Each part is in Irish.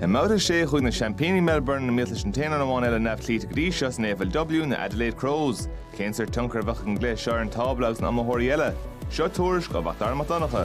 I mBabhta 6 chuaigh na seaimpíní Melbourne i mbéal leis an t-aon dream amháin eile neamhchloíte go dtí seo san AFLW, na Adelaide Crows. Cén sórt tionchar a bheadh ag an gcluiche seo ar an tábla agus na hiomaitheoirí eile? Seo tuairisc ó Mhacdara Mac Donncha.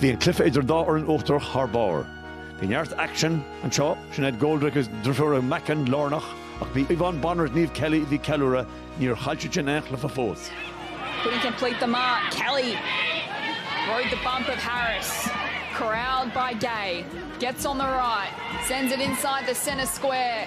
Bhí an cluife idir an dá fhoireann uachtarach thar barr. Bhí neart aicsean anseo, Sinéad Goldrick is deirfiúracha Mackin lárnach ach ba í Yvonne Bonner is Niamh Kelly a bhí ag ceiliúradh, níor chaill siad sin aon chluife fós. Couldn't complete the mark. Kelly rode the bump of Harris. Corralled by Gay. Gets on the right. Sends it inside the centre square.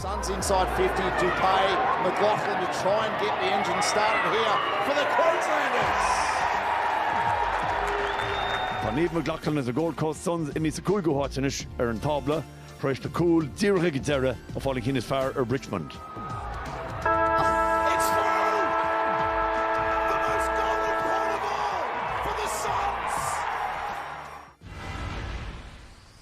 Suns inside 50, Dupuy, McLaughlin to try and get the engine started here for the Queenslanders! Tá Niamh McLaughlin is na Gold Coast Suns imithe sa cúigiú háit anois ar an tábla tar éis do chúilín díreach ag an deireadh a fháil an cheann is fearr ar Richmond.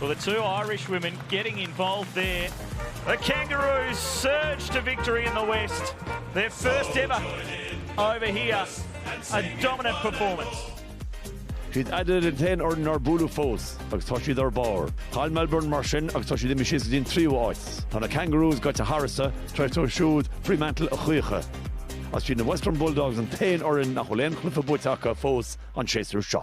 Well the two Irish women getting involved there. The Kangaroos surge to victory in the West. Their first ever over here. A dominant performance. Is iad Adelaide an t-aon fhoireann nár buaileadh fós agus tá siad ar barr. Chaill Melbourne mar sin agus tá siad imithe síos go dtí an tríú áit. Tá na Kangaroos gaibhte tharstu, threascair siad siúd Fremantle a choíche. Is iad na Western Bulldogs an t-aon fhoireann nach bhfuil aon chluife buaite acu fós an séasúr seo.